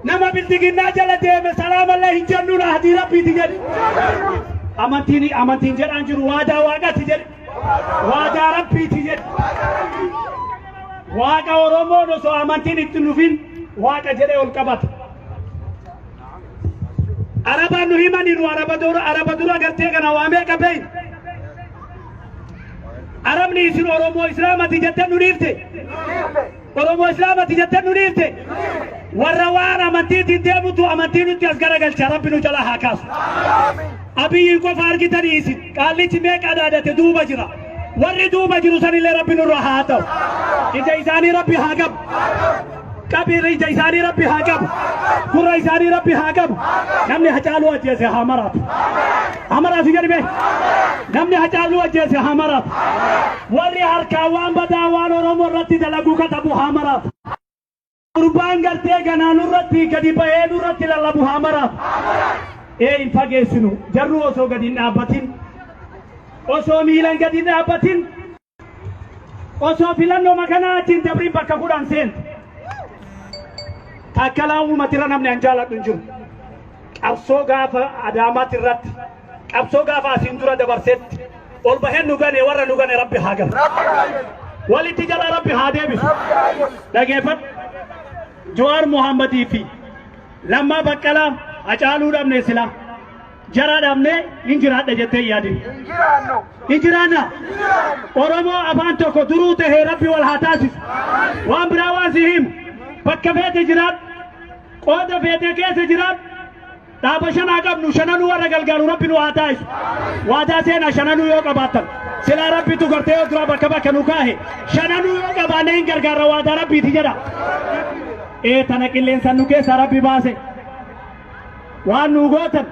nama bildiginnaa jala deeme salaamallee hin jennu rahadii rabbiiti jedhe amantiin amantiin jedhaan jiru waadaa waaqati jedhe waadaa rabbiiti jedhe waaqa oromoon osoo amantiin itti nufin waaqa jedhee ol qabata araba nu himaniinu araba dura araba dura gartee kana waamee qabeeyin arabni isin oromoo islaamati jette nu dhiifte Oromoo Islaamati jettee nu dhiifte. Warra waan amantiitiin deemutu amantii nutti as garagalcha rabbi nu jalaa haa kaasu. Abiyyiin qofa argitanii isin qaallichi meeqa dhaadate duuba jira. Warri duuba jiru sanillee rabbi nurra haa ta'u. Ija isaanii rabbi haa qabu. Qabiirri ija isaanii rabbi haa qabu. Gurra isaanii rabbi haa qabu. Namni hacaaluu ajjeese haa maraatu. Hamaraa si gadi bee. Namni hacaaluu ajjeese hamaraaf. Warri harkaa waan badaa waan Oromoo irratti dalaguu katabu hamaraaf. Gurbaan gartee ganaa nurratti gadi bahee nurratti lallabu hamaraaf. Ee hin fageessinu jarru osoo gadi hin dhaabbatin osoo miilan gadi hin dhaabbatin Osoo filannoo makanaa achiin dabriin bakka kudhan seente. Taakkalaa uummatira namni an jaaladhu hin jiru. Qabsoo gaafa Adaamaatti irratti qabsoo gaafa asiin dura dabarsetti ol baheen nu gane warra nu gane rabbi haa galu. Walitti jala rabbi haa deebisu. Dhageeffadhu. Jawaar Muhammadii fi Lammaa Baqqalaa Hacaaluu dhabne silaa. Jaraa dhaabnee hin jiraadha jettee hin yaadin. Hin jiraannu. Hin jiraanna. Oromoo afaan tokko duruu tahee rabbi wal haa taasisu. Waan biraa waan si himu. Bakka feete jiraadhu. Qooda feete keessa jiraadhu. Dhaaba shanaa qabnu shananuu warra galgaaru rabbi nu haa taasisu. Waadaa seenaa shananuu yoo qabaattan. Silaa rabbitu gartee yoo duraa bakka bakka nu kaahe. Shananuu yoo qabaanne hin gargaarra waadaa rabbiiti jedha. Ee tana qilleensaan nu keessaa rabbi baase. Waan nuu gootan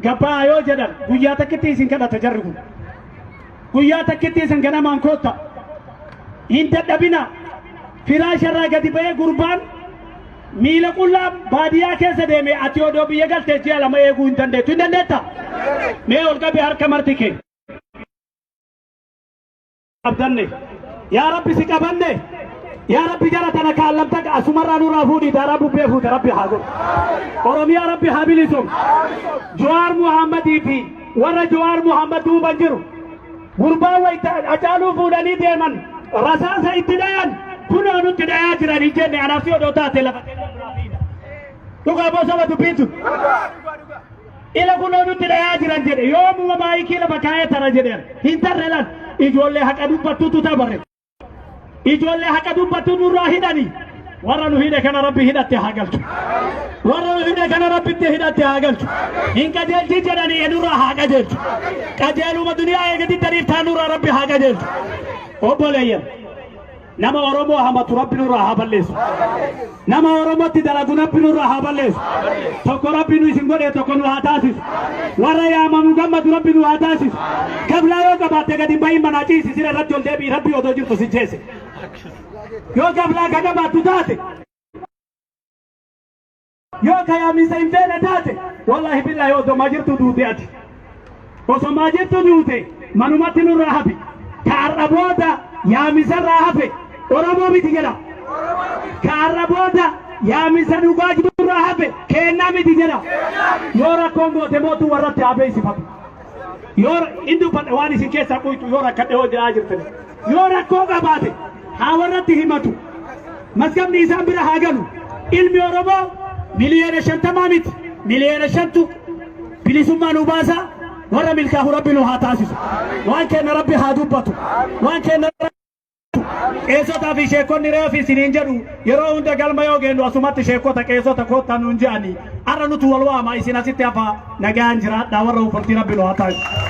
gabba'aa yoo jedhan guyyaa takkitti isin kadhata jarri kun. Guyyaa takkitti isin ganamaan kootta. Hin dadhabina. Firaasha irraa gadi ba'ee gurbaan miila qullaa baadiyyaa keessa deeme ati odoo biyya galtee ji'a lama eeguu hin dandeettu. Hin dandeetta? Mee ol qabi harka marti kee. qabdanne yaa rabbi si qabanne yaa rabbi jara tana kaallamta asumarraa nurraa fuudhii daaraa bubbee fuute rabbi haa godhu oromiyaa rabbi haa bilisoom jawaar muhammadii fi warra jawaar muhammad duuban jiru gurbaa wayta acaaluu fuudhanii deeman rasaasa itti dhayan kunoo nutti dhayaa jiran hin jenne anaaf si odoo taate lafa dhugaa bosaba dubbiin sun Ila kunoo nutti dhayaa jiran jedhe yoomuma maayikii lafa kaa'ee tara jedheera. Hin tarre lan ijoollee haqa dubbattutu tabare. Ijoollee haqa dubbattu nurraa hidhani. Warra nu hidhe kana rabbi hidhatte haa galchu. Warra nu hidhe kana rabbitti hidhatte haa galchu. Hin qajeelchi jedhanii enurraa haa qajeelchu. Qajeeluma duniyaa eegatti tariif taanurraa rabbi haa qajeelchu. Obboleeyyan. Nama Oromoo hamatu Rabbi nurraa haa balleessu. Nama Oromootti dalagu Rabbi nurraa haa balleessu. Tokko Rabbi nu isin godhee tokko nu haa taasisu. Warra yaamamu gammadu Rabbi nu haa taasisu. Gablaa yoo qabaatte gadi bahin manaa ciisi sira irratti ol deebi'i Rabbi odoo jirtu si jeese. Yoo gablaa ka qabaattu taate Yoo ka yaamiinsa hin feene taate wallaahi billaahi osoo maa jirtu duute ati. Osoo maa jirtu duute manumatti nurraa hafi. Ka har'a booda yaamisarraa hafe Oromoo miti jedha. Ka har'a booda yaamisa dhugaa jirurraa hafe keennaa miti jedha. Yoo rakkoon goote mootu warratti haa beeksifatu. Yoo hin dubbadhe waan isin keessaa qoytu yoo rakkadhe yoo jiraa jirtani. Yoo rakkoo qabaate haa warratti himatu. Mazgabni isaan bira haa galu. Ilmi Oromoo miliyoona shantamaa miti miliyoona shantu bilisummaa nu baasa warra milkaahu rabbi nu haa taasisu. Waan kenna rabbi haa dubbatu. Waan kenna qeessotaa fi sheekonni reefi isiniin jedhu yeroo hunda galma yoo geennu asumatti sheekota qeessota koottaa nuun je'anii har'a nutu wal waama isin asitti hafaa. Nagaan jiraadhaa warra uffatti rabbi nu haa taasisu.